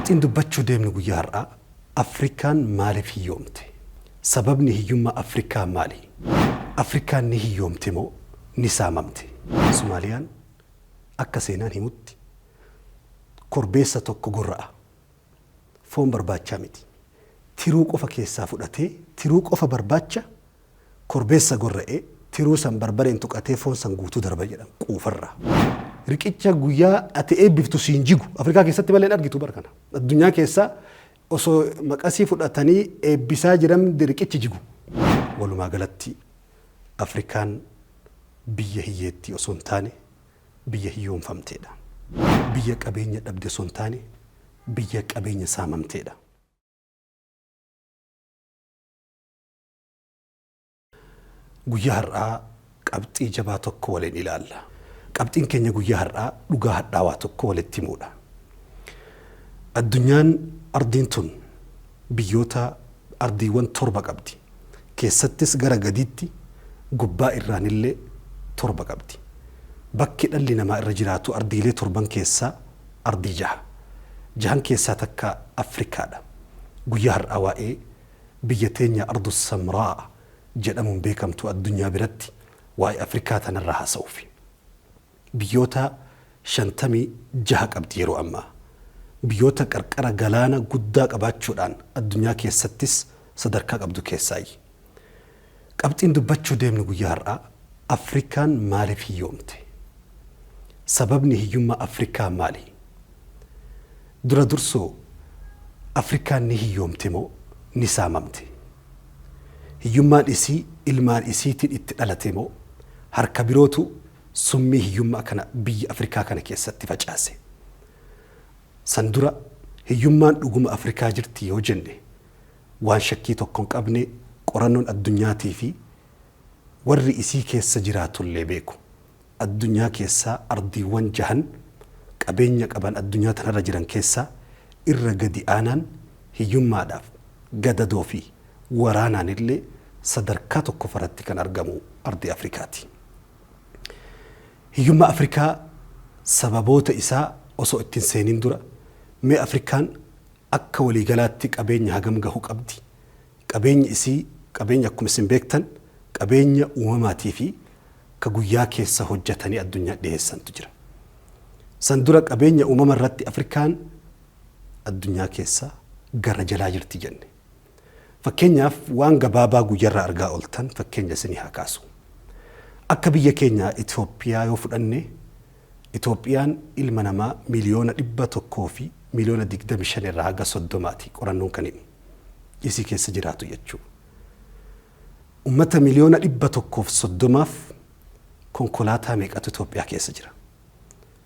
Qabxiin dubbachuu deemnu guyyaa har'aa Afrikaan maaliif hiyyoomte? Sababni hiyyummaa Afrikaa maali? Afrikaan ni hiyyoomte moo ni saamamte? Sumaaliyaan akka seenaan himutti korbeessa tokko gorra'a. Foon barbaachaa miti. Tiruu qofa keessaa fudhatee tiruu qofa barbaacha Korbeessa gorra'ee, tiruu san barbareen tuqatee foon san guutuu darba jedhan, quufarraa. Riqicha guyyaa ati eebbiftu siin jigu. Afrikaa keessatti malee hin argitu bar kana. Addunyaa keessa osoo maqasii fudhatanii eebbisaa jiran riqichi jigu. Walumaa galatti Afrikaan biyya hiyyeettii osoo hin taane biyya hiyyoomfamteedha. Biyya qabeenya dhabde osoo hin taane biyya qabeenya saamamteedha. Guyyaa har'aa qabxii jabaa tokko waliin ilaalla. Qabxiin keenya guyyaa har'aa dhugaa hadhaawaa tokko walitti himuudha. Addunyaan ardiin tun biyyoota ardiiwwan torba qabdi. Keessattis gara gadiitti gubbaa irraanillee torba qabdi. Bakki dhalli namaa irra jiraatu ardiilee torban keessaa ardii jaha. Jahan keessaa takka Afrikaadha. Guyyaa har'aa waa'ee Biyya teenya Ardu Samraa jedhamuun beekamtu addunyaa biratti waa'ee Afrikaa tanarraa haasa'uufi. Biyyoota 56 qabdi yeroo ammaa. Biyyoota qarqara galaana guddaa qabaachuudhaan addunyaa keessattis sadarkaa qabdu keessaayyi. Qabxiin dubbachuu deemnu guyyaa har'aa Afrikaan maaliif hiyyoomte? Sababni hiyyummaa Afrikaa maali? Dura dursoo Afrikaan ni hiyyoomte moo ni saamamte? Hiyyummaan isii ilmaan isiitiin itti dhalate moo harka birootu summii hiyyummaa kana biyya Afrikaa kana keessatti facaase? San dura hiyyummaan dhuguma Afrikaa jirtii yoo jenne Waan shakkii tokko hin qabne qorannoon addunyaatii fi warri isii keessa jiraatu illee beeku, addunyaa keessaa ardiiwwan jahan qabeenya qaban addunyaa tana irra jiran keessaa irra gadi aanaan hiyyummaadhaaf, gadadoo fi waraanaan illee sadarkaa tokkofa irratti kan argamu ardii Afrikaa ti. Hiyyummaa Afrikaa sababoota isaa osoo itti hin seeniin dura mee Afrikaan Akka waliigalaatti qabeenya hagam gahu qabdi? Qabeenyi isii qabeenya akkuma isin beektan qabeenya uumamaatii fi ka guyyaa keessa hojjatanii addunyaa dhiheessantu jira. San dura qabeenya uumama irratti Afrikaan addunyaa keessa gara jalaa jirti jenne. Fakkeenyaaf waan gabaabaa guyyarraa argaa oltan fakkeenya isinii haa kaasu. Akka biyya keenya Itoophiyaa yoo fudhanne Itoophiyaan ilma namaa miliyoona 100 fi miliyoona 25 irraa haga 30 ti qorannoon kan himu. Isii keessa jiraatu jechuu. Ummata miliyoona 130f konkolaataa meeqatu Itoophiyaa keessa jira?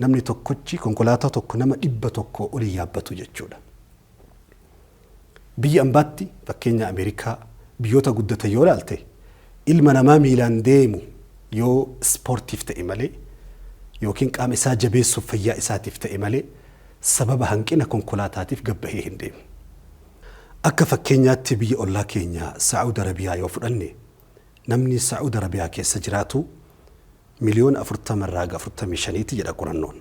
Namni tokkochi konkolaataa tokko nama 100 ol hin yaabbatu jechuudha. Biyya ambaatti fakkeenya Ameerikaa, biyyoota guddatan yoo ilaalte ilma namaa miilaan deemu yoo ispoortiif ta'e malee yookiin qaama isaa jabeessuuf fayyaa isaatiif ta'e malee sababa hanqina konkolaataatiif gad bahee hin deemu. Akka fakkeenyaatti biyya ollaa keenya Sa'ud Arabiyaa yoo fudhanne Namni Sa'ud Arabiyaa keessa jiraatu miliyoona 40 irraa haga 45 ti jedha qorannoon.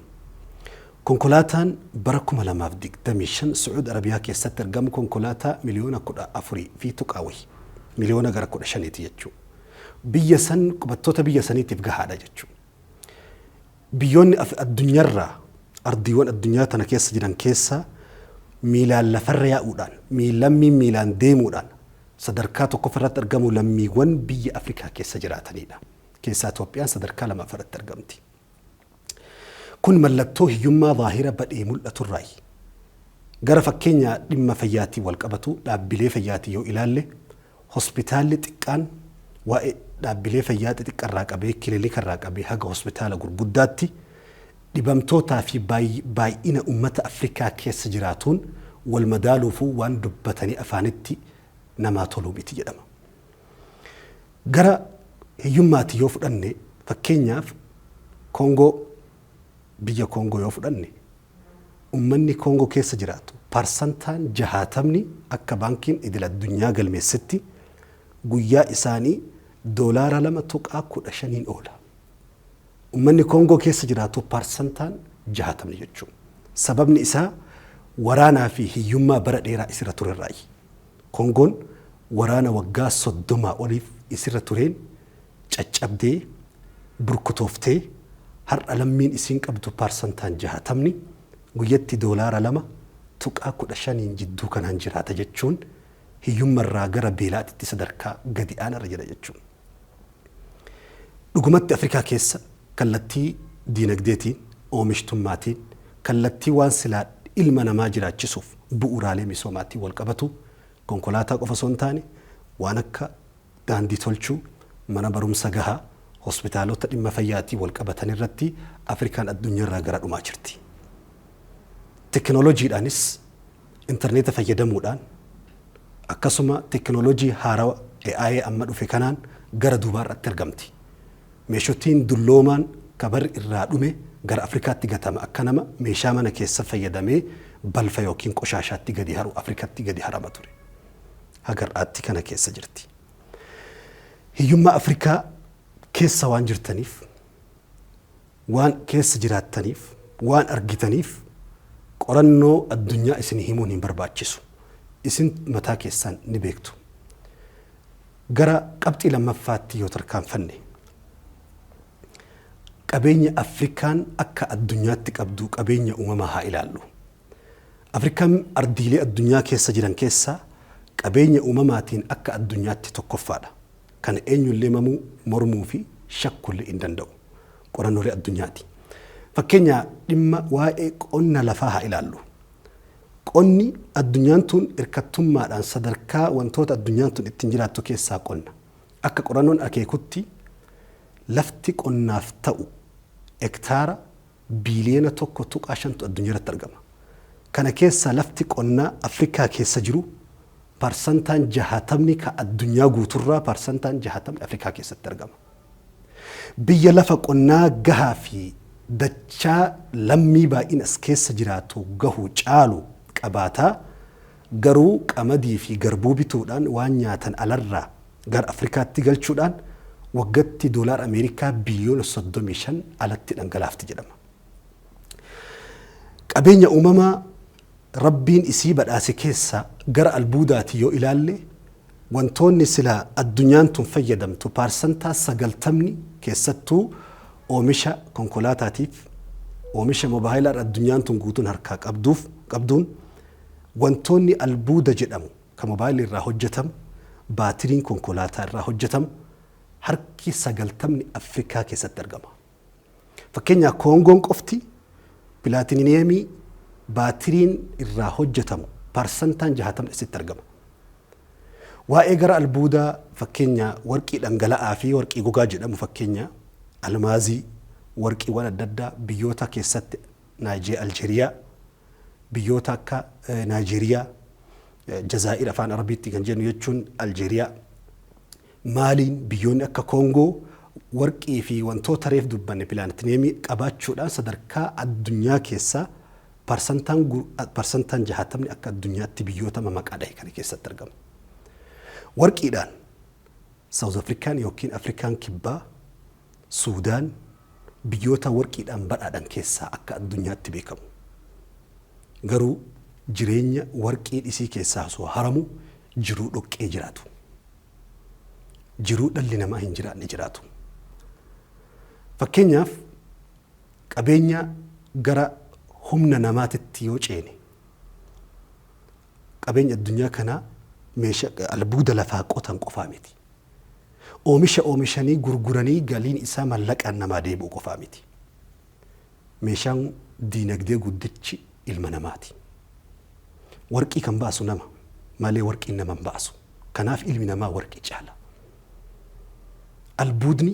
Konkolaataan bara 2025 Sa'ud Arabiyaa keessatti argamu konkolaataa miliyoona 14 fi tuqaa wahi, miliyoona gara 15 ti jechuu. Biyya san qubattoota biyya saniitiif gahaadha jechuu. Biyyoonni af addunyarraa ardiiwwan addunyaa tana keessa jiran keessaa miilaan lafarra yaa'uudhaan, miil lammiin miilaan deemuudhaan sadarkaa tokkoffa irratti argamu lammiiwwan biyya Afrikaa keessa jiraataniidha. Keessaa Itoophiyaan sadarkaa lamaffa irratti argamti. Kun mallattoo hiyyummaa zaahira badhee mul'aturraayi. Gara fakkeenyaa dhimma fayyaatiin walqabatu dhaabbilee fayyaatiin yoo ilaalle Hospitaalli xiqqaan waa'ee dhaabbilee fayyaa xixiqqa irraa qabee kilinika irraa qabee haga hospitaala gurguddaatti dhibamtootaa fi baay'ina ummata Afrikaa keessa jiraatuun wal madaaluufuu waan dubbatanii afaanitti namaa toluu miti jedhama. Gara hiyyummaati yoo fudhanne fakkeenyaaf Koongoo Biyya Koongoo yoo fudhanne, ummanni Koongoo keessa jiraatu parsantaan jahaatamni akka Baankiin Idil Addunyaa galmeessetti guyyaa isaanii doolaara 2.15n oola. Ummanni Koongoo keessa jiraatu parsantaan jahaatamni jechuun. Sababni isaa waraanaa fi hiyyummaa bara dheeraa isirra turerraayi. Koongoon waraana waggaa 30 oliif isirra tureen caccabdee, burkutooftee, har'a lammiin isiin qabdu parsantaan jaatamni guyyatti doolaara 2.15n jidduu kanaan jiraata jechuun hiyyumma irraa gara beelaatitti sadarkaa gadi aanaa irra jira jechuun. Dhugumatti Afrikaa keessa kallattii diinagdeetiin, oomishtummaatiin, kallattii waan silaa ilma namaa jiraachisuuf bu'uuraalee misoomaatiin walqabatu konkolaataa qofa osoo hin taane waan akka daandii tolchuu, mana barumsa gahaa, hospitaalota dhimma fayyaatiin walqabatan irratti Afrikaan addunyarraa gara dhumaa jirti. Tekinooloojiidhaanis interneeta fayyadamuudhaan akkasuma tekinooloojii haarawa AI amma dhufe kanaan gara duubaarratti argamti. Meeshotiin dulloomaan ka barri irraa dhume gara Afrikaatti gatama akka nama meeshaa mana keessa fayyadamee balfa ykn qoshaashaatti gadi haru Afrikatti gadi harama ture. haga har'aatti kana keessa jirti. Hiyyummaa Afrikaa keessa waan jirtaniif, waan keessa jiraattaniif, waan argitaniif qorannoo addunyaa isinii himuun hin barbaachisu. Isin mataa keessaan ni beektu. Gara qabxii lammaffaatti yoo tarkaanfanne, qabeenya Afrikaan akka addunyaatti qabdu qabeenya uumamaa haa ilaallu. Afrikaan ardiilee addunyaa keessa jiran keessaa qabeenya uumamaatiin akka addunyaatti tokkoffaadha. Kana eenyullee mamuu, mormuufi shakkuullee hin danda'u. Qorannoolee addunyaati. Fakkeenyaa dhimma waa'ee qonna lafaa haa ilaallu. Qonni addunyaan tun irkattummaadhaan sadarkaa wantoota addunyaan tun ittiin jiraattu keessaa qonna. Akka qorannoon akeekutti lafti qonnaaf ta'u hektaara biiliyoona 1.5tu addunyaarratti argama. Kana keessaa lafti qonnaa Afrikaa keessa jiru parsantaan 60 ka addunyaa guuturraa parsantaan 60 Afrikaa keessatti argama. Biyya lafa qonnaa gahaa fi dachaa lammii baay'ina is keessa jiraatu gahu caalu qabaata, Garuu qamadii fi garbuu bituudhaan waan nyaatan alarraa gara Afrikaatti galchuudhaan waggatti doolaara Ameerikaa biliyoona 35 alatti dhangalaafti jedhama. Qabeenya uumamaa Rabbiin isii badhaase keessaa gara albuudaatiin yoo ilaalle wantoonni silaa addunyaan tun fayyadamtu paarsantaa 90 keessattuu oomisha konkolaataatiif, oomisha mobaayilaadha addunyaan tun guutuun harkaa qabduuf, qabduun, Wantoonni albuuda jedhamu kan mobaayilii irraa hojjetamu, baatiriin konkolaataa irraa hojjetamu harki sagaltamni Afrikaa keessatti argama. Fakkeenyaa Koongoon qofti pilaatiniyeemii baatiriin irraa hojjetamu parsantaan jahaatamni achitti argama. Waa'ee gara albuudaa fakkeenyaa warqii dhangala'aa fi warqii gogaa jedhamu fakkeenyaa almaazii, warqiiwwan adda addaa biyyoota keessatti Naayijee Aljeeriyaa, biyyoota akka Naajeeriyaa, Jazaa'ir afaan Arabiitti kan jennu jechuun Aljeeriyaa, Maaliin biyyoonni akka Koongoo warqii fi wantoota reef dubbanne pilaanetineemii qabaachuudhaan sadarkaa addunyaa keessaa parsantaan parsantaan jahaatamni akka addunyaatti biyyoota mamaqaa dhahe kana keessatti argamu. Warqiidhaan Saawuz Afrikaan yookiin Afrikaan Kibbaa Suudaan biyyoota warqiidhaan badhaadhan keessaa akka addunyaatti beekamu. Garuu jireenya warqiin isii keessaa osoo haramu jiruu dhoqqee jiraatu. Jiruu dhalli namaa hin jiraanne jiraatu. Fakkeenyaaf qabeenya gara humna namaatitti yoo ceene qabeenya addunyaa kanaa meesha albuuda lafaa qotan qofaa miti. Oomisha oomishanii gurguranii galiin isaa mallaqaan namaa deebi'u qofaa miti. Meeshaan diinagdee guddichi ilma namaati. Warqii kan baasu nama malee warqiin nama hin baasu. Kanaaf ilmi namaa warqii caala. Albuudni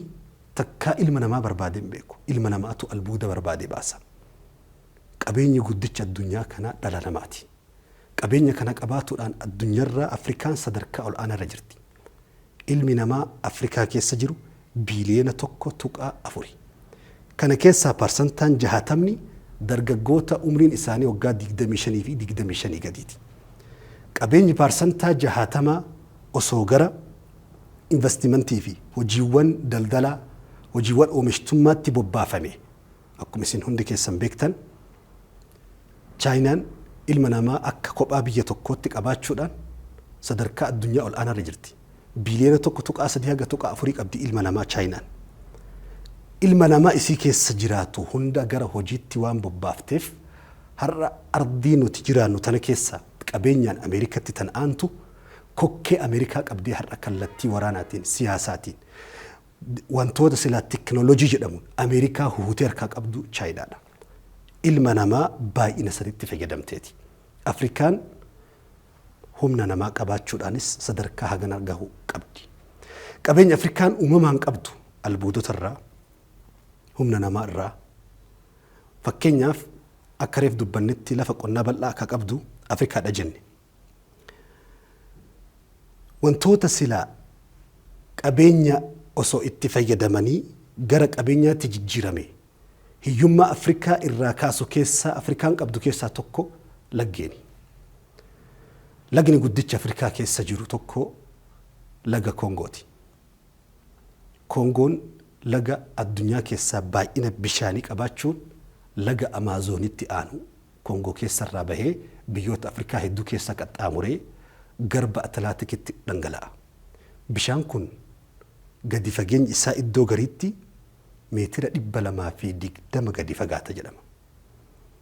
takkaa ilma namaa barbaadee hin beeku. Ilma namaatu albuuda barbaadee baasa. Qabeenyi guddichi addunyaa kanaa dhala namaati. Qabeenya kana qabaatuudhaan addunyarraa Afrikaan sadarkaa ol'aanaarra jirti. Ilmi namaa Afrikaa keessa jiru biiliyoona 1.4. Kana keessaa parsantaan 60'mni dargaggoota umriin isaanii waggaa 25 fi 25 gadiiti. Qabeenyi parsantaa 60 osoo gara invastimantiifi hojiiwwan daldalaa, hojiiwwan oomishtummaatti bobbaafamee, Akkuma isin hundi keessan beektan Chaayinaan ilma namaa akka kophaa biyya tokkootti qabaachuudhaan sadarkaa addunyaa ol aanaarra jirti. Biiliyoona 1.3 haga 4 qabdi ilma namaa Chaayinaan. Ilma namaa isii keessa jiraatu hunda gara hojiitti waan bobbaafteef har'a ardii nuti jiraannu tana keessa qabeenyaan Ameerikatti tan aantu kokkee Ameerikaa qabdee har'a kallattii waraanaatiin, siyaasaatiin, Wantoota silaa teknolojii jedhamuun Ameerikaa huhutee harkaa qabdu Chaayinaadha. Ilma namaa baay'ina sanitti fayyadamteeti. Afrikaan humna namaa qabaachuudhaanis sadarkaa hagana gahu qabdi. Qabeenya Afrikaan uumamaan qabdu albuudota irraa, humna namaa irraa. Fakkeenyaaf akka reef dubbannetti lafa qonnaa bal'aa akka qabdu Afrikaadha jenne. Wantoota sila qabeenya osoo itti fayyadamanii gara qabeenyaatti jijjiirame hiyyummaa Afrikaa irraa kaasu keessaa Afrikaan qabdu keessaa tokko laggeeni. Lagni guddichi Afrikaa keessa jiru tokko laga Koongooti. Koongoon laga addunyaa keessaa baay'ina bishaanii qabaachuun laga Amaazoonitti aanu Koongoo keessa irraa bahee biyyoota Afrikaa hedduu keessa qaxxaamuree garba Atilaatikitti dhangala'a. Bishaan kun gadi fageenyi isaa iddoo gariitti meetira 220 gadi fagaata jedhama.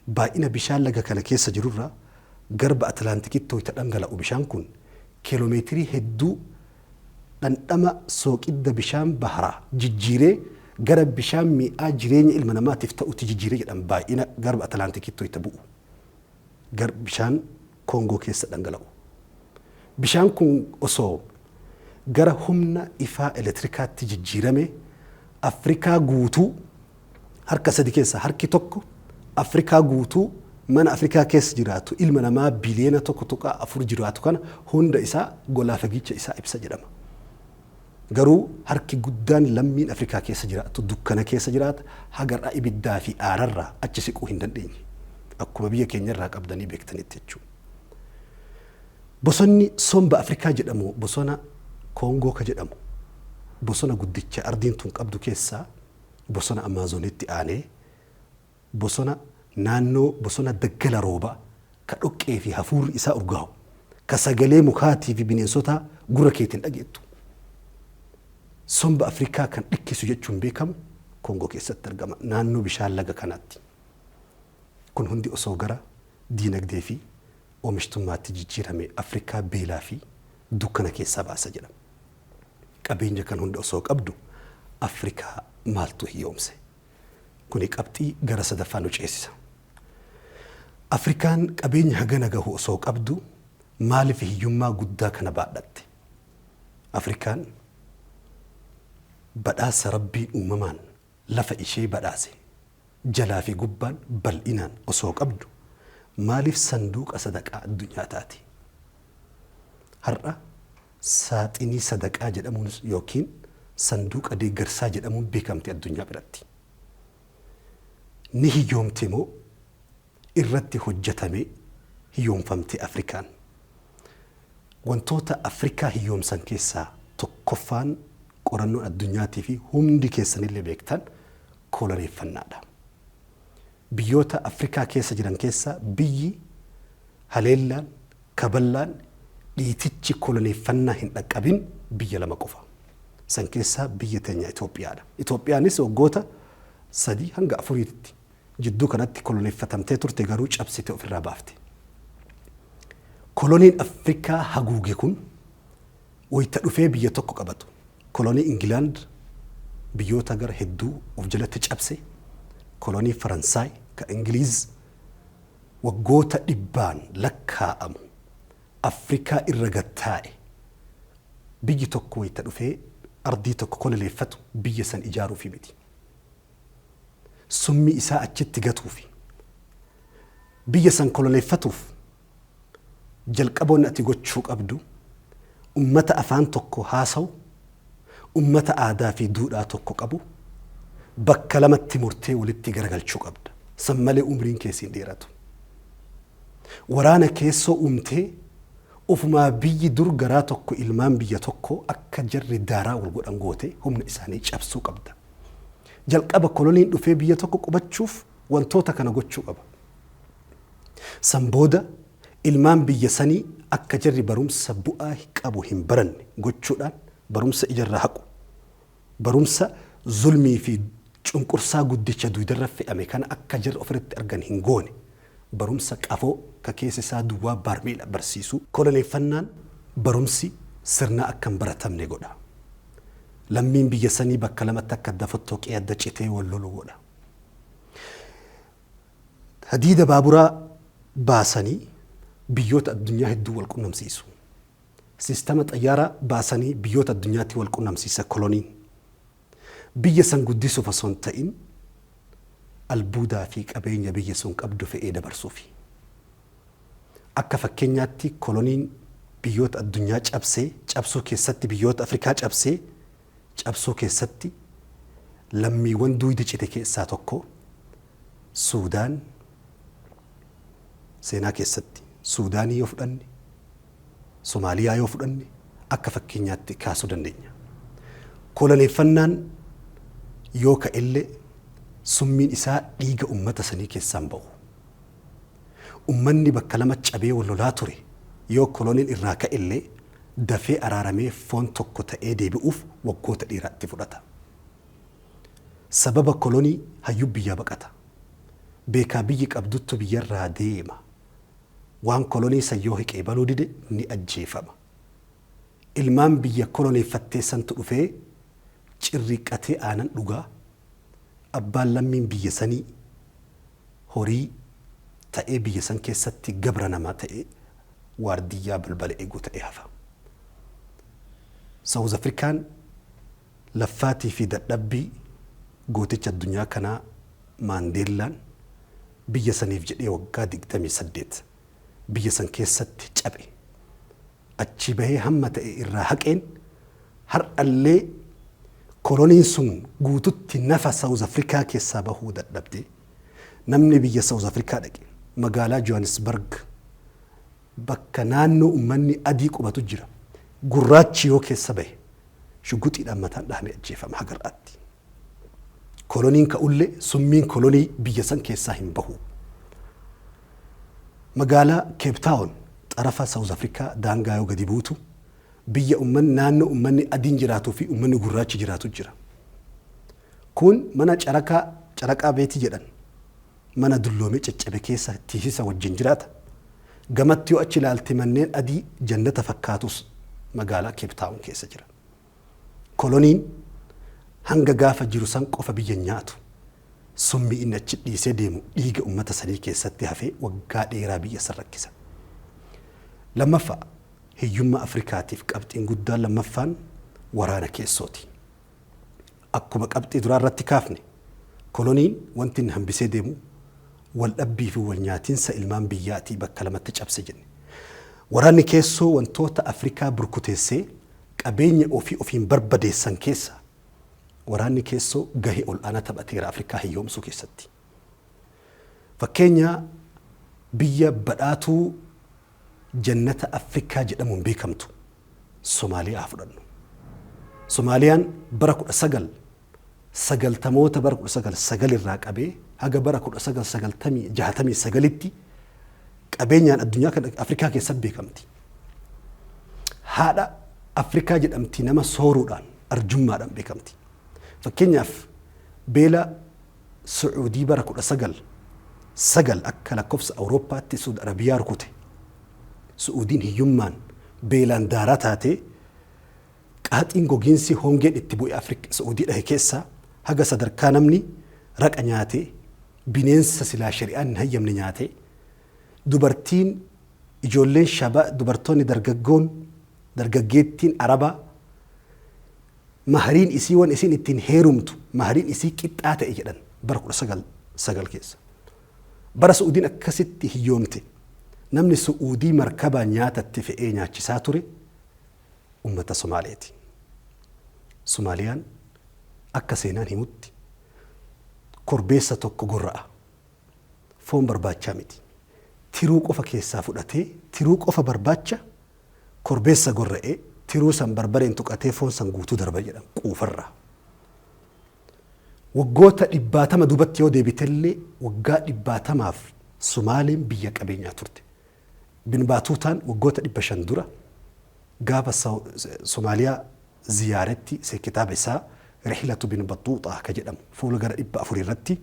Baay'ina bishaan laga kana keessa jirurra garba Atilaantikitti wayita dhangala'u bishaan kun kiilomeetirii hedduu dhandhama sooqidda bishaan baharaa jijjiiree gara bishaan mi'aa jireenya ilma namaatiif ta'utti jijjiire jedhan baay'ina garba Atlaantikiitti wayita bu'u gar bishaan Koongoo keessa dhangala'u. Bishaan kun osoo gara humna ifaa eletirikaatti jijjiirame Afrikaa guutuu harka sadi keessaa harki tokko Afrikaa guutuu mana Afrikaa keessa jiraatu ilma namaa biliyeena 1.4 jiraatu kana hunda isaa golaa fagiicha isaa ibsa jedhama. Garuu harki guddaan lammiin Afrikaa keessa jiraatu dukkana keessa jiraata hagar'a ibiddaa fi aararraa achi siquu hin dandeenye. Akkuma biyya keenya irraa qabdanii beektanitti jechuudha. Bosonni somba Afrikaa jedhamu bosona Koongoo ka jedhamu bosona guddicha ardiin tun qabdu keessaa bosona Amaazonitti aanee bosona naannoo bosona daggala rooba ka dhoqqee fi hafuurri isaa urgaawu, ka sagalee mukaatii fi bineensotaa gurra keetiin dhageettu. Somba Afrikaa kan dhikkisu jechuun beekamu Koongoo keessatti argama, naannoo bishaan laga kanaatti. Kun hundi osoo gara diinagdee fi oomishtummaatti jijjiiramee Afrikaa beelaa fi dukkana keessaa baasa jedhama. Qabeenya kan hunda osoo qabdu Afrikaa maaltu hiyyoomse? Kuni qabxii gara sadaffaa nu ceesisa. Afrikaan qabeenya hagana gahu osoo qabdu maaliif hiyyummaa guddaa kana baadhatte? Afrikaan badhaasa Rabbiin uumamaan lafa ishee badhaase jalaa fi gubbaan bal'inaan osoo qabdu maaliif sanduuqa sadaqaa addunyaa taati? Har'a Saaxinii sadaqaa jedhamuun ykn sanduuqa deeggarsaa jedhamuun beekamti addunyaa biratti. Ni hiyyoomte moo irratti hojjatamee hiyyoomfamte Afrikaan? Wantoota Afrikaa hiyyoomsan keessaa tokkoffaan qorannoon addunyaatiifi hundi keessanillee beektan koloneeffannaadha. Biyyoota Afrikaa keessa jiran keessaa biyyi haleellaan, kaballaan, dhiitichi koloneeffannaa hin dhaqqabin biyya lama qofa. San keessaa biyya teenya Itoophiyaadha. Itoophiyaanis waggoota 3-4tti jidduu kanatti koloneeffatamtee turte garuu cabsite ofirraa baafte. Koloniin Afrikaa haguuge kun Wayita dhufee biyya tokko qabatu kolonii Ingilaand biyyoota gara hedduu of jalatti cabse, kolonii Faransaay, kan Ingiliiz waggoota dhibbaan lakkaa'amu Afrikaa irra gad taa'e, biyyi tokko wayita dhufee ardii tokko koloneeffatu biyya san ijaaruufi miti. Summii isaa achitti gatuufi. Biyya san koloneeffatuuf Jalqaba wanni ati gochuu qabdu ummata afaan tokko haasawu, ummata aadaa fi duudhaa tokko qabu bakka lamatti murtee walitti garagalchuu qabda. San malee umriin kee siin dheeratu. Waraana keessoo uumtee ofumaa biyyi dur garaa tokko ilmaan biyya tokkoo akka jarri daaraa wal godhan gootee humna isaanii cabsuu qabda. Jalqaba koloniin dhufee biyya tokko qubachuuf wantoota kana gochuu qaba. San booda ilmaan biyya sanii akka jarri barumsa bu'aa qabu hin baranne gochuudhaan barumsa ijarraa haqu. Barumsa zulmii fi cunqursaa guddicha duydarra fe'ame kana akka jarri ofirratti argan hin goone. Barumsa qafoo ka keessi isaa duwwaa baarmeela barsiisu. Koloneeffannaan barumsi sirnaa akka hin baratamne godha. Lammiin biyya sanii bakka lamatti akka adda fottooqee adda citee wal lolu godha. Hadiida baaburaa baasanii biyyoota addunyaa hedduu wal qunnamsiisu. Sistama xayyaaraa baasanii biyyoota addunyaatti wal qunnamsiisa koloniin. Biyya san guddisuuf osoo hin ta'in albuudaa fi qabeenya biyyi sun qabdu fe'ee dabarsuufi. Akka fakkeenyaatti koloniin biyyoota addunyaa cabsee cabsuu keessatti biyyoota Afrikaa cabsee cabsuu keessatti lammiiwwan duuydi cite keessaa tokko Suudaan seenaa keessatti Suudaanii yoo fudhanne, Somaaliyaa yoo fudhanne akka fakkeenyaatti kaasuu dandeenya. Koloneeffannaan yoo ka'ellee summiin isaa dhiiga ummata sanii keessaan ba'u. Ummanni bakka lamatti cabee wal lolaa ture yoo koloniin irraa ka'e illee dafee araaramee foon tokko ta'ee deebi'uuf waggoota dheeraa itti fudhata. Sababa kolonii hayyuun biyyaa baqata. Beekaa biyyi qabduttu biyyarraa deema. Waan kolonii san yoo hiqee banuu dide ni ajjeefama. Ilmaan biyya koloneeffattee santu dhufee cirriiqqatee aanan dhugaa. Abbaan lammiin biyya sanii. horii ta'ee biyya san keessatti gabra namaa ta'ee waardiyyaa balbala eegu ta'ee hafa. South African laffaatii fi dadhabbii gooticha addunyaa kanaa Maandeellaan biyya saniif jedhee waggaa 28 biyya san keessatti caphe. achii bahee hamma ta'e irraa haqeen har'allee koloniin sun guututti nafa South Africa keessaa bahuu dadhabde. Namni biyya South Africa dhaqe magaalaa Johannesburg bakka naannoo ummanni adii qubatu jira. Gurraachi yoo keessa bahe shugguxiidhaan mataan dhahamee ajjeefama haga har'aatti. Koloniin ka'ullee summiin kolonii biyya san keessaa hin bahu. Magaalaa Keep Taawon xarafa Sawuz Afrikaa daangaa yoo gadi buutu biyya ummanni naannoo ummanni adiin jiraatuu fi ummanni gurraachi jiraatu jira. Kun mana carakaa caraqaa beetii jedhan mana dulloomee caccabe keessa tiisisa wajjin jiraata. Gamatti yoo achi ilaalte manneen adii jannata fakkaatus magaalaa Keep Taawon keessa jira. Koloniin hanga gaafa jiru san qofa biyya hin nyaatu. Summii inni achi dhiisee deemu dhiiga ummata sanii keessatti hafee waggaa dheeraa biyya san rakkisa. Lammaffaa, hiyyummaa Afrikaatiif qabxiin guddaan lammaffaan waraana keessooti. Akkuma qabxii duraa irratti kaafne, koloniin wanti inni hambisee deemu wal dhabbii fi wal nyaatinsa ilmaan biyyaatii bakka lamatti cabse jenne. Waraanni keessoo wantoota Afrikaa burkuteessee Qabeenya ofii ofiin barbadeessan keessaa waraanni keessoo gahee ol'aanaa taphateera Afrikaa hiyyoomsuu keessatti. Fakkeenya biyya badhaatuu jannata Afrikaa jedhamuun beekamtu Somaaliyaa haa fudhannu. Somaaliyaan bara 19. sagaltamoota bara 1909 irraa qabee haga bara 1969tti qabeenyaan addunyaa kan Afrikaa keessatti beekamti. Haadha Afrikaa jedhamti nama sooruudhaan arjummaadhaan beekamti. Fakkeenyaaf beela Sucuudii bara 1909 akka lakkoofsa Awurooppaatti Suud Arabiyaa rukute. Su'uudiin hiyyummaan beelaan daaraa taatee Qaaxiin gogiinsi hongeen itti bu'e Afrik Sa'uudii dhahe keessaa haga sadarkaa namni raqa nyaatee, bineensa silaa shari'aan hin hayyamne nyaatee, dubartiin, ijoolleen shaba, dubartoonni dargaggoon, dargaggeettiin Arabaa mahariin isii wan isiin ittiin heerumtu mahariin isii qixxaa ta'e jedhan bara 1909 keessa. Bara Su'uudiin akkasitti hiyyoomte namni Su'uudii markabaan nyaata itti fe'ee nyaachisaa ture, ummata Somaaleeti. Somaaliyaan akka seenaan himutti korbeessa tokko gorra'a. Foon barbaachaa miti. Tiruu qofa keessaa fudhatee tiruu qofa barbaacha korbeessa gorra'ee tiruu san barbareen tuqatee foon san guutuu darba jedhan quufarraa. Waggoota dhibbaatama duubatti yoo deebitellee waggaa dhibbaatamaaf Somaaleen biyya qabeenyaa turte. Bin Baatuutaan waggoota 500 dura gaafa Somaaliyaa ziyaaretti kitaaba isaa Rihlatu Bin Baxxuuxaa ka jedhamu fuula gara 400 irratti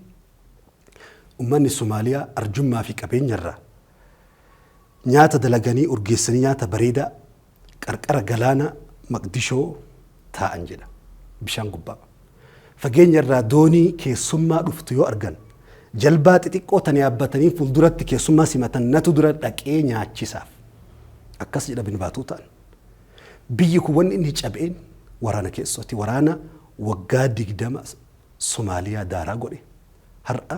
ummanni Somaaliyaa arjummaa fi qabeenya irraa nyaata dalaganii urgeessanii nyaata bareedaa Qarqara galaana Maqdishoo taa'an jedha. Bishaan gubbaa. Fageenya irraa doonii keessummaa dhuftu yoo argan jalbaa xixiqqoo tan yaabbatanii fuulduratti keessummaa simatan natu dura dhaqee nyaachisaaf. Akkas jedha bin Baatuutaan. Biyyi kun wanni inni cabeen waraana keessooti. Waraana waggaa digdama Somaaliyaa daaraa godhe. Har'a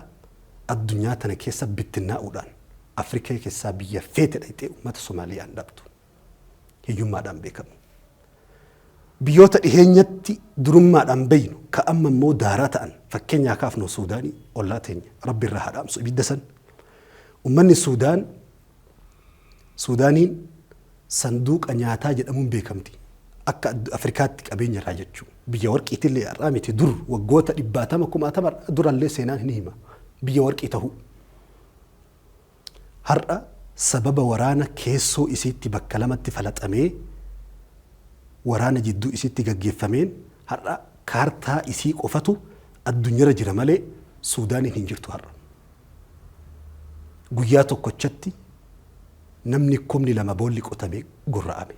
addunyaa tana keessa bittinnaa'uudhaan Afrikaa keessaa biyya feete dhayxee uummata Somaaliyaan dhabdu. hiyyummaadhaan beekamu. Biyyoota dhiheenyatti durummaadhaan beeynu ka amma immoo daaraa ta'an fakkeenyaa kaafnu Suudaanii ollaa teenya rabbi irraa haa dhaamsu ibidda san. Ummanni Suudaan Suudaaniin sanduuqa nyaataa jedhamuun beekamti. Akka addu- Afrikaatti qabeenya irraa jechuu. Biyya warqiitillee har'aa miti dur waggoota dhibbaatama kumaatama durallee seenaan hin hima. Biyya warqii ta'uu. Har'a sababa waraana keessoo isiitti bakka lamatti falaxamee waraana jidduu isiitti gaggeeffameen har'a kaartaa isii qofatu addunyara jira malee Suudaaniin hin jirtu har'a. Guyyaa tokkochatti namni kumni lama boolli qotame gorra'ame.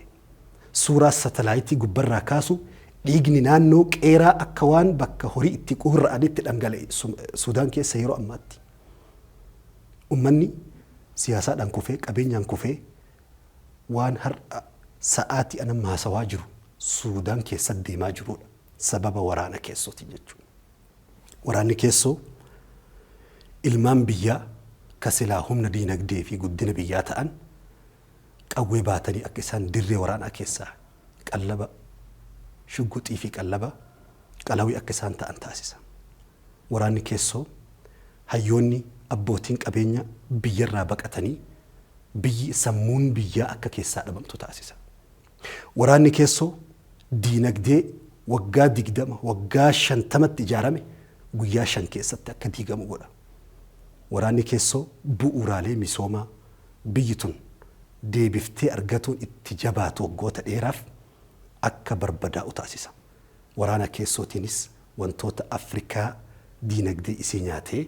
Suuraa satalaayitii gubbarraa kaasu dhiigni naannoo qeeraa akka waan bakka horii itti quurra'anitti dhangala'e Suudaan keessa yeroo ammaatti. Ummanni siyaasaadhaan kufee, qabeenyaan kufee waan har'a sa'aatii an amma haasawaa jiru Suudaan keessatti deemaa jiruudha. Sababa waraana keessootiin jechuudha. Waraanni keessoo ilmaan biyyaa ka silaa humna diinagdee fi guddina biyyaa ta'an qawwee baatanii akka isaan dirree waraanaa keessaa qallaba shugguxii fi qallaba qalawii akka isaan ta'an taasisa. Waraanni keessoo, hayyoonni, abbootiin qabeenya biyyarraa baqatanii biyyi, sammuun biyyaa akka keessaa dhabamtu taasisa. Waraanni keessoo diinagdee waggaa 20, waggaa 50tti ijaarame guyyaa 5 keessatti akka diigamu godha. Waraanni keessoo bu'uuraalee misoomaa biyyi tun deebiftee argatuun itti jabaatu waggoota dheeraaf akka barbadaa'u taasisa. Waraana keessootiinis Wantoota Afrikaa diinagdee isii nyaatee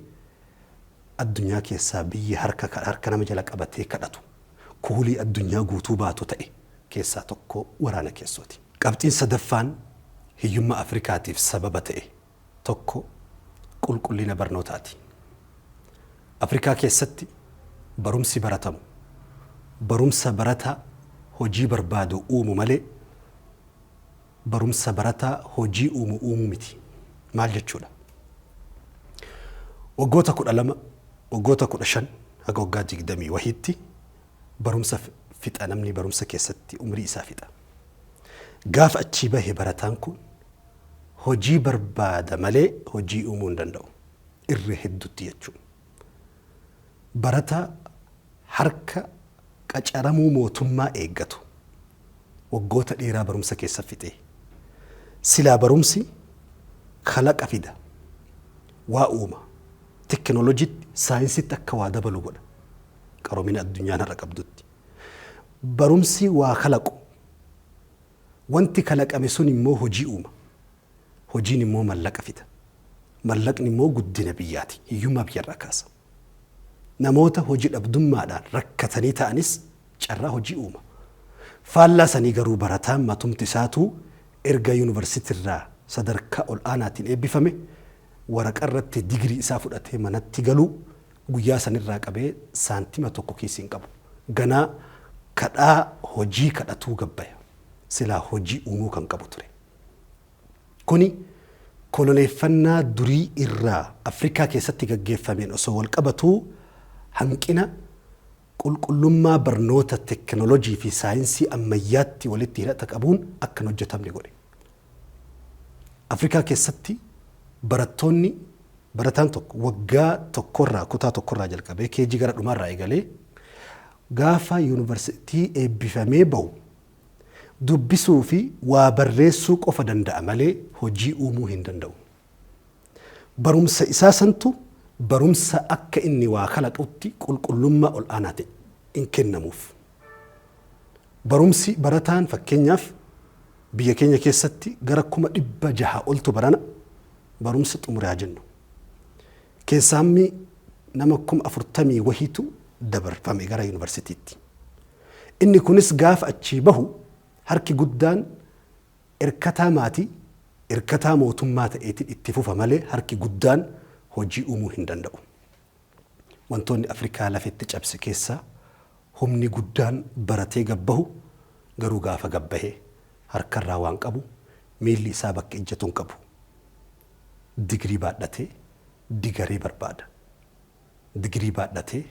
addunyaa keessaa biyyi harka harka nama jala qabatee kadhatu, kuulii addunyaa guutuu baatu ta'e keessaa tokko waraana keessooti. Qabxiin sadaffaan hiyyummaa Afrikaatiif sababa ta'e tokko qulqullina barnootaati. Afrikaa keessatti barumsi baratamu barumsa barataa hojii barbaadu uumu malee Barumsa barataa hojii uumu uumuu miti maal jechuudha? Waggoota 12, waggoota 15 haga waggaa 20 wahiitti barumsa fixa namni barumsa keessatti umrii isaa fixa. Gaafa achii bahe barataan kun hojii barbaada malee hojii uumuu hin danda'u. Irra heddutti jechuun. barataa harka qacaramuu mootummaa eeggatu waggoota dheeraa barumsa keessa fixee silaa barumsi kalaqa fida, waa uuma, teknolojitti, saayinsitti akka waa dabalu godha qaromina addunyaan har'a qabdutti. Barumsi waa kalaqu wanti kalaqame sun immoo hojii uuma. Hojiin immoo mallaqa fida. Mallaqni immoo guddina biyyaati. Hiyyummaa biyyarraa kaasa. Namoota hoji dhabdummaadhaan rakkatanii ta'anis carraa hojii uuma. Faallaa sanii garuu barataan matumti isaatuu erga yunivarsitirraa sadarkaa ol'aanaatiin eebbifame waraqarratti digirii isaa fudhatee manatti galuu guyyaa sanirraa qabee saantima tokko kiisii hin qabu. Ganaa kadhaa hojii kadhatuu gabbaya. Silaa hojii uumuu kan qabu ture. Kuni koloneeffannaa durii irraa Afrikaa keessatti gaggeeffameen osoo wal qabatuu hanqina qulqullummaa barnoota teknolojii fi saayinsii ammayyaatti walitti hidhata qabuun akka hin hojjetamne godhe. Afrikaa keessatti barattoonni barataan tokko waggaa tokkorraa kutaa tokkorraa jalqabee KG gara dhumaarraa eegalee gaafa yuunivarsiitii eebbifamee bahu Dubbisuu fi waa barreessuu qofa danda'a malee hojii uumuu hin danda'u. Barumsa isaa santu barumsa akka inni waa kalaqutti qulqullummaa ol'aanaa ta'e hin kennamuuf. Barumsi barataan fakkeenyaaf biyya keenya keessatti gara kuma dhibba jaha oltu barana barumsa xumure haa jennu. Keessaa hammi nama kuma afurtamii wahiitu dabarfame gara yunivarsitiitti. Inni kunis gaafa achii bahu harki guddaan irkataa maatii, irkataa mootummaa ta'eetiin itti fufa malee harki guddaan hojii uumuu hin danda'u. Wantoonni Afrikaa lafetti cabse keessaa humni guddaan baratee gad bahu garuu gaafa gad bahe harkarraa waan qabu miilli isaa bakka ijjatu hin qabu. Digirii baadhatee digaree barbaada. Digirii baadhatee,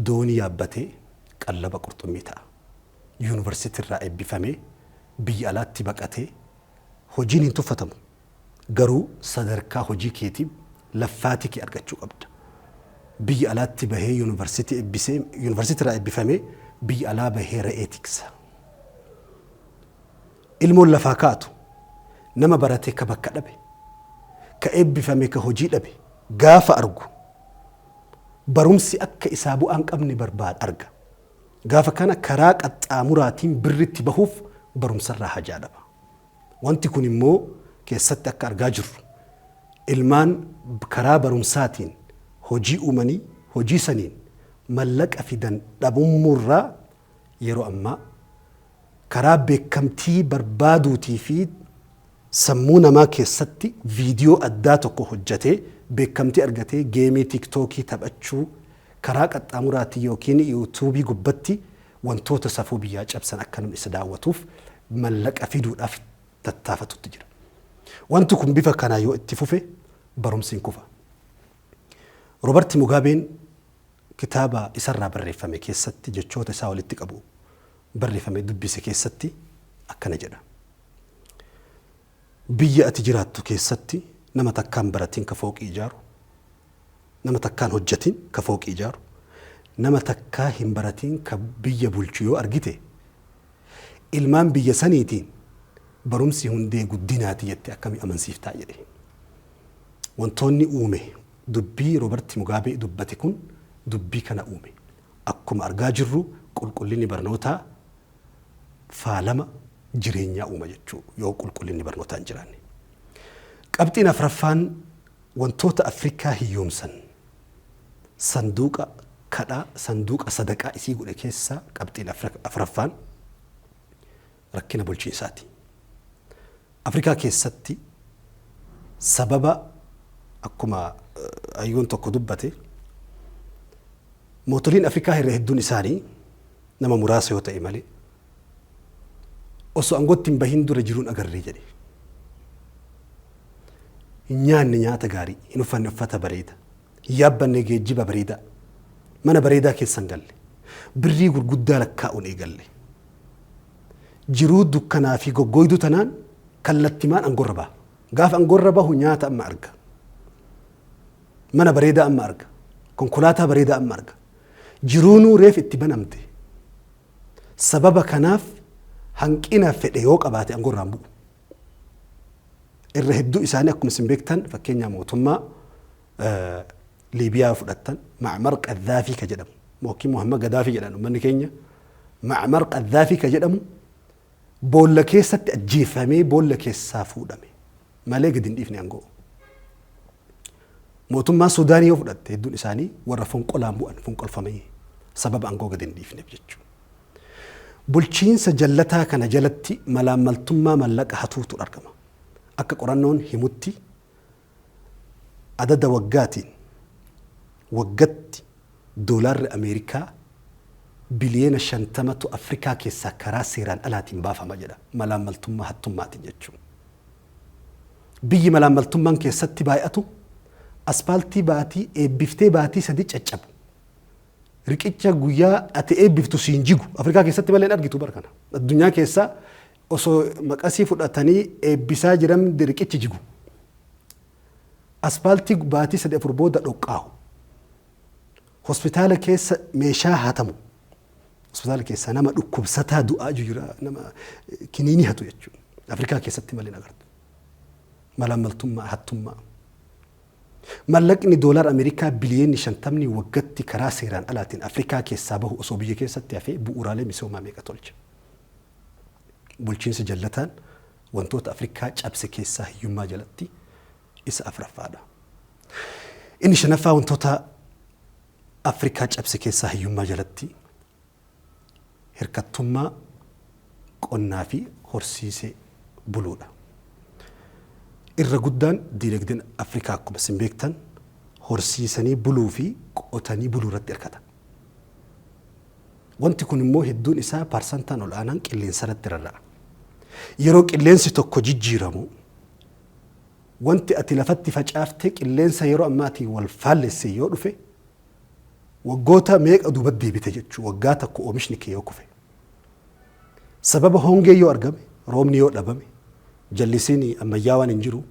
doonii yaabbatee qallaba qurxummii ta'a. Yuunivarsiitiirraa eebbifamee biyya alaatti baqatee hojiin hin tuffatamu. Garuu sadarkaa hojii keetiif laffaatii kee argachuu qabda. Biyya alaatti bahee yuunivarsiitii ebbisee yuunivarsiitiirraa eebbifamee biyya alaa bahee re'ee tiksa. Ilmoon lafaa kaatu nama barate ka bakka dhabe, ka eebbifame ka hojii dhabe gaafa argu barumsi akka isaa bu'aa hin qabne barbaada, arga. Gaafa kana karaa qaxxaamuraatiin birritti bahuuf barumsarraa hajaa dhaba. Wanti kun immoo keessatti akka argaa jirru ilmaan karaa barumsaatiin hojii uumanii hojii saniin mallaqa fidan dhabummuurraa Yeroo ammaa karaa beekamtii barbaaduutii fi sammuu namaa keessatti viidiyoo addaa tokko hojjatee beekamtii argatee geemii tiiktookii taphachuu, karaa qaxxaamuraatiin ykn yuutuubii gubbatti wantoota safuu biyyaa cabsan akka namni isa daawwatuuf mallaqa fiduudhaaf tattaafatutti jira. Wanti kun bifa kanaan yoo itti fufe barumsi hin kufa. Robarti Mugaabeen kitaaba isarraa barreeffame keessatti jechoota isaa walitti qabu barreeffame dubbise keessatti akkana jedha. Biyya ati jiraattu keessatti nama takkaan baratiin ka fooqii ijaaru, nama takkaan hojjatiin ka fooqii ijaaru, nama takkaa hin baratiin ka biyya bulchu yoo argite, ilmaan biyya saniitiin barumsi hundee guddinaati jettee akkami amansiiftaa jedhe. Wantoonni uume dubbii Roobert Mugaabee dubbate kun dubbii kana uume. Akkuma argaa jirru qulqullinni barnootaa faalama jireenyaa uuma jechuu yoo qulqullinni barnootaa hin jiraanne. Qabxiin afraffaan wantoota Afrikaa hiyyoomsan sanduuqa kadhaa, sanduuqa sadaqaa isii godhe keessaa qabxiin afraffaan rakkina bulchiinsaati. Afrikaa keessatti sababa akkuma hayyuun tokko dubbate mootoliin Afrikaa irra hedduun isaanii nama muraasa yoo ta'e malee osoo aangootti hin bahin dura jiruun agarree jedhe. Hin nyaanne nyaata gaarii, hin uffanne uffata bareeda, hin yaabbanne geejjiba bareedaa, mana bareedaa keessa hin galle, birrii gurguddaa lakkaa'uun eegalle. Jiruu dukkanaa fi goggooyduu tanaan kallattimaan angorra baha. Gaafa angorra bahu nyaata amma arga. Mana bareedaa amma arga. Konkolaataa bareedaa amma arga. Jiruunuu reef itti banamte. Sababa kanaaf hanqina fedhe yoo qabaate angorraan bu'u. Irra hedduu isaanii akkuma isin beektan fakkeenyaa mootummaa, Liibiyaa yoo fudhattan Ma'mar Qaddaafii ka jedhamu yookiin Muhammad Gaddaafii jedhan uummanni keenya Ma'mar Qaddaafii ka jedhamu boolla keessatti ajjeeffamee boolla keessaa fuudhame malee gadi hin dhiifne aangoo. Mootummaa Suudaanii yoo fudhatte hedduun isaanii warra fonqolaan bu'an fonqolfamee sababa aangoo gadi hin dhiifneef jechuudha. Bulchiinsa jallataa kana jalatti malaammaltummaa mallaqa hatuutu argama. Akka qorannoon himutti Adada waggaatiin waggatti doolaarri Ameerikaa biliyoona 50tu Afrikaa keessaa karaa seeraan alaatiin baafama jedha malaammaltummaa hattummaatiin jechuun. Biyyi malaammaltummaan keessatti baay'atu aspaaltii baatii eebbiftee baatii sadii caccabu. Riqicha guyyaa ati eebbiftu siin jigu Afrikaa keessatti malee hin argitu bara kana. Addunyaa keessaa Osoo maqasii fudhatanii eebbisaa jiramdi riqichi jigu. Aspaaltii baatii sadii afur booda dhoqqaahu. Hospitaala keessa meeshaa hatamu. Hospitaala keessaa nama dhukkubsataa du'aa jiru jira nama kiniinii hatu jechuudha. Afrikaa keessatti malee agartu. Malaammaltummaa, hattummaa. Mallaqni doolaara Ameerikaa biliyoonni shantamni waggatti karaa seeraan alaatiin Afrikaa keessaa bahu osoo biyya keessatti hafee bu'uuraalee misoomaa meeqa tolcha. Bulchiinsi jallataan wantoota Afrikaa cabse keessaa hiyyummaa jalatti isa afraffaadha. Inni shanaffaa wantoota Afrikaa cabse keessaa hiyyummaa jalatti hirkattummaa qonnaa fi horsiisee buluudha. Irra guddaan diinagdeen Afrikaa akkuma isin beektan horsiisanii buluu fi qotanii buluu irratti hirkata. Wanti kun immoo hedduun isaa parsantaan ol aanaan qilleensarratti rarra'a. Yeroo qilleensi tokko jijjiiramu wanti ati lafatti facaaftee qilleensa yeroo ammaatiin wal faallesse yoo dhufe waggoota meeqa duuba deebita jechuu waggaa tokko oomishni kee yoo kufe. Sababa hongee yoo argame, roobni yoo dhabame, jallisiin ammayyaawaan hin jiru,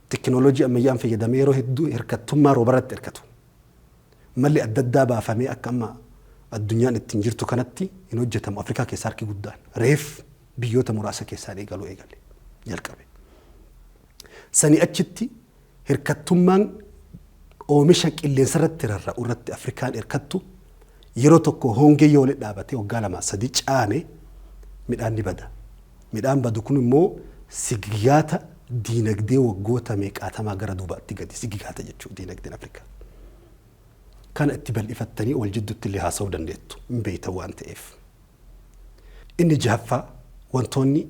tekinooloojii ammayyaan fayyadamee yeroo hedduu hirkattummaa roobarratti hirkatu. Malli adda addaa baafamee akka amma addunyaan ittiin jirtu kanatti hin hojjetamu. Afrikaa keessaa harki guddaan reef biyyoota muraasa keessaa eegaluu eegale, jalqabe. Sanii achitti hirkattummaan oomisha qilleensarratti rarra'u irratti Afrikaan hirkattu Yeroo tokko hongee yoo walitti dhaabatee waggaa lama sadi caame midhaan ni bada. Midhaan badu kun immoo sigigaata diinagdee waggoota meeqaatamaa gara duubaatti gadi sigigaata jechuudha diinagdeen Afrikaa. Kana itti bal'ifattanii wal jidduutti illee haasa'uu dandeettu hin beektan waan ta'eef. Inni jahaffaa wantoonni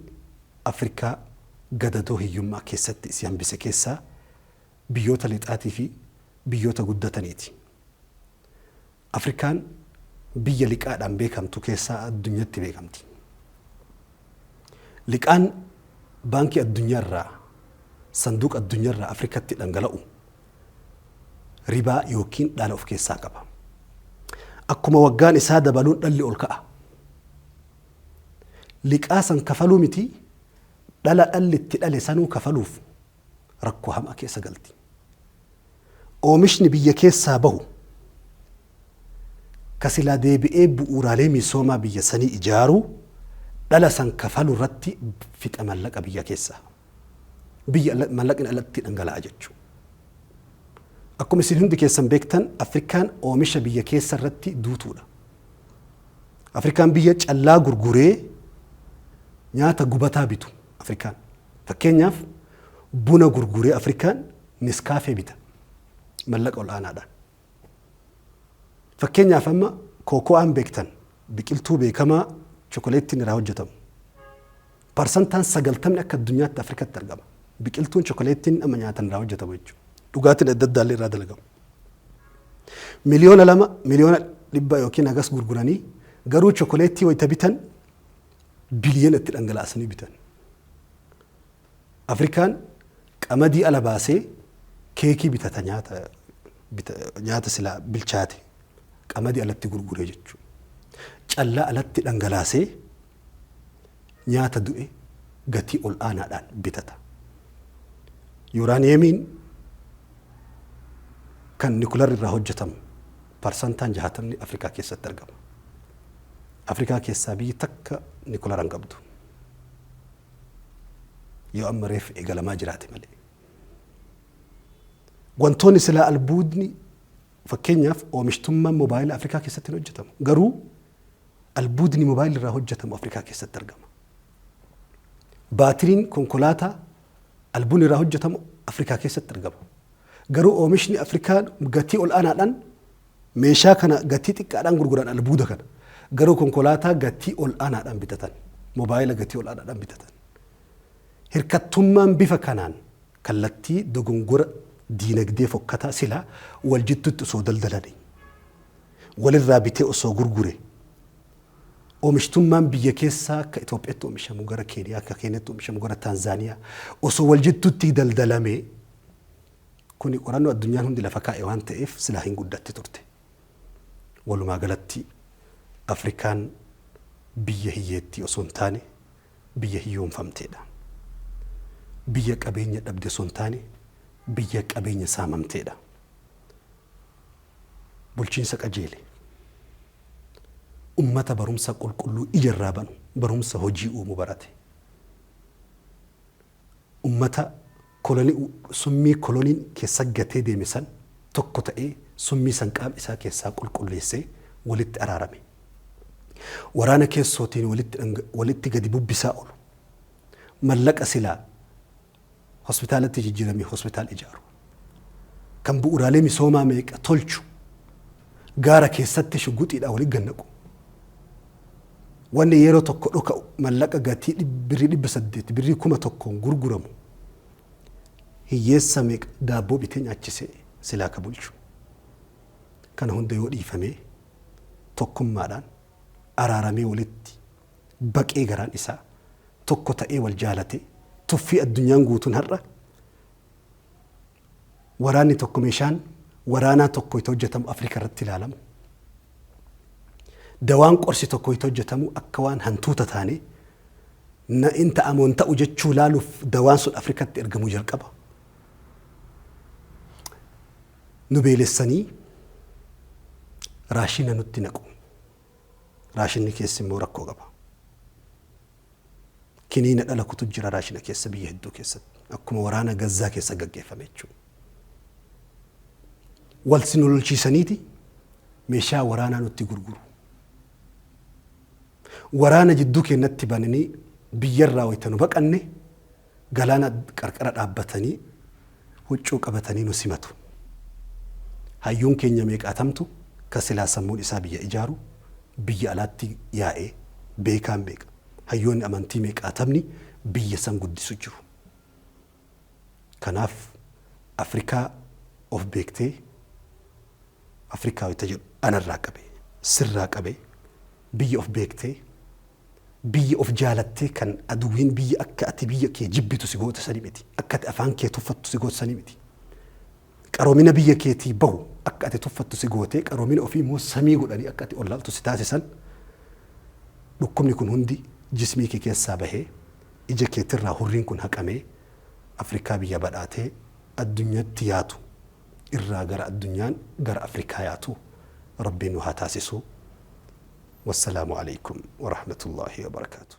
Afrikaa gadadoo hiyyummaa keessatti isii hambise keessaa biyyoota lixaatii fi biyyoota guddataniiti. Afrikaan biyya liqaadhaan beekamtu keessaa addunyatti beekamti. Liqaan baankii addunyaa irraa sanduuqa addunyaa irraa Afrikatti dhangala'u ribaa yookiin dhaala of keessaa qaba. Akkuma waggaan isaa dabaluun dhalli ol ka'a. Liqaa san kafaluu miti dhala dhalli itti dhale sanuu kafaluuf rakkoo hamaa keessa galti. Oomishni biyya keessaa bahu ka silaa deebi'ee bu'uuraalee misoomaa biyya sanii ijaaruu, dhala san kafaluu irratti fixa mallaqa biyya keessaa. Biyya ala, mallaqni alatti dhangala'a jechu. Akkuma isin hundi keessan beektan Afrikaan oomisha biyya keessa irratti duutuudha. Afrikaan biyya callaa gurguree nyaata gubataa bitu Afrikaan. Fakkeenyaaf buna gurguree Afrikaan Neskaafee bita mallaqa ol'aanaadhaan. Fakkeenyaaf amma kooko'aan beektan biqiltuu beekamaa chokoleettiin irraa hojjetamu. Parsantaan sagaltamni akka addunyaatti Afrikatti argama. Biqiltuun chokoleettiin amma nyaatan irraa hojjetamu jechuudha. Dhugaatiin adda addaa irraa dalagamu. Miliyoona lama miliyoona dhibba yookiin hagas gurguranii garuu chokoleettii wayita bitan biliyoona itti dhangala'asanii bitan. Afrikaan qamadii ala baasee keekii bitata nyaata bita, nyaata silaa bilchaate qamadii alatti gurguree jechuudha. Callaa alatti dhangalaasee nyaata du'e gatii ol aanaadhaan bitata. Yuraaniyeemiin kan nikular irraa hojjetamu Parsantaan jaatamni Afrikaa keessatti argama. Afrikaa keessaa biyyi takka Nikulara hin qabdu. Yoo amma reef eegalamaa jiraate malee. Wantoonni silaa albuudni fakkeenyaaf oomishtummaan moobaayila Afrikaa keessatti hin hojjetamu. Garuu albuudni moobaayila irraa hojjetamu Afrikaa keessatti argama. Baatiriin konkolaataa Albuun irraa hojjetamu Afrikaa keessatti argama. Garuu oomishni Afrikaa gatii ol'aanaadhaan meeshaa kana gatii xiqqaadhaan gurguran albuuda kana. Garuu konkolaataa gatii ol'aanaadhaan bitatan. Mobaayila gatii ol'aanaadhaan bitatan. Hirkattummaan bifa kanaan kallattii dogongora diinagdee fokkataa sila wal jidduutti osoo daldalani walirraa bitee osoo gurgure Oomishtummaan biyya keessaa akka Itoophiyatti oomishamu gara Keeniyaa, akka Keeniyatti oomishamu gara Taanzaaniyaa osoo wal jidduutti daldalamee kuni qorannoo addunyaan hundi lafa kaa'e waan ta'eef silaa hin guddatti turte. Walumaa galatti Afrikaan biyya hiyyeettii osoo hin taane biyya hiyyoomfamteedha. Biyya qabeenya dhabde osoo hin taane biyya qabeenya saamamteedha. Bulchiinsa qajeele. ummata barumsa qulqulluu ija irraa banu, barumsa hojii uumu barate. Ummata koloni summii koloniin keessa gatee deeme san tokko ta'ee summii san qaama isaa keessaa qulqulleessee walitti araarame. Waraana keessootiin walitti dhanga, walitti gadi bubbisaa oolu. Mallaqa silaa Hospitaalatti jijjiiramee hospitaal ijaaru. Kan bu'uuraalee misoomaa meeqa tolchu. Gaara keessatti shuguxiidhaan wali gannaqu. Wanni yeroo tokko dhoka'u mallaqa gatii birrii dhibba saddeet, birrii kuma tokkoon gurguramu hiyyeessa meeqa daabboo bitee nyaachise silaa ka bulchu. Kana hunda yoo dhiifamee tokkummaadhaan araaramee walitti baqee garaan isaa tokko ta'ee wal jaalate tuffii addunyaan guutuun har'a waraanni tokko meeshaan waraanaa tokko itti hojjetamu Afrikaa irratti ilaalamu. Dawaan qorsi tokko itti hojjetamu akka waan hantuuta taane na in ta'amoo hin ta'u jechuu ilaaluuf dawaan sun Afrikatti ergamuu jalqaba. Nu beelessanii raashina nutti naqu. Raashinni keessi immoo rakkoo qaba. Kiniina dhala kutu jira raashina keessa biyya hedduu keessatti. Akkuma waraana Gazzaa keessa gaggeeffame jechuudha. Wal si lolchiisaniiti meeshaa waraanaa nutti gurguru. Waraana jidduu keenyatti bananii biyyarraa wayita nu baqanne Galaana qarqara dhaabbatanii huccuu qabatanii nu simatu. Hayyuun keenya meeqaatamtu kan silaa sammuun isaa biyya ijaaru biyya alaatti yaa'e, beekaan meeqa, hayyoonni amantii meeqaatamni biyya san guddisu jiru. Kanaaf Afrikaa of beektee Afrikaawi ta jedhu anarraa qabe, sirraa qabe, biyya of beektee, Biyya of jaalattee kan aduwwiin biyya akka ati biyya kee jibbitu si goote sani miti. Akka ati afaan kee tuffattu si goote sani miti. Qaroomina biyya keetii bahu akka ati tuffattu si gootee qaroomina ofii immoo samii godhanii akka ati ollaaltu si taasisan dhukkubni kun hundi jismii kee keessaa bahee ija keetirraa hurriin kun haqamee Afrikaa biyya badhaatee addunyatti yaatu irraa gara addunyaan gara Afrikaa yaatu Rabbii nu haa taasisuu. Wassalaamu Aleykum Warahmatullaahi Wabarakaatuh.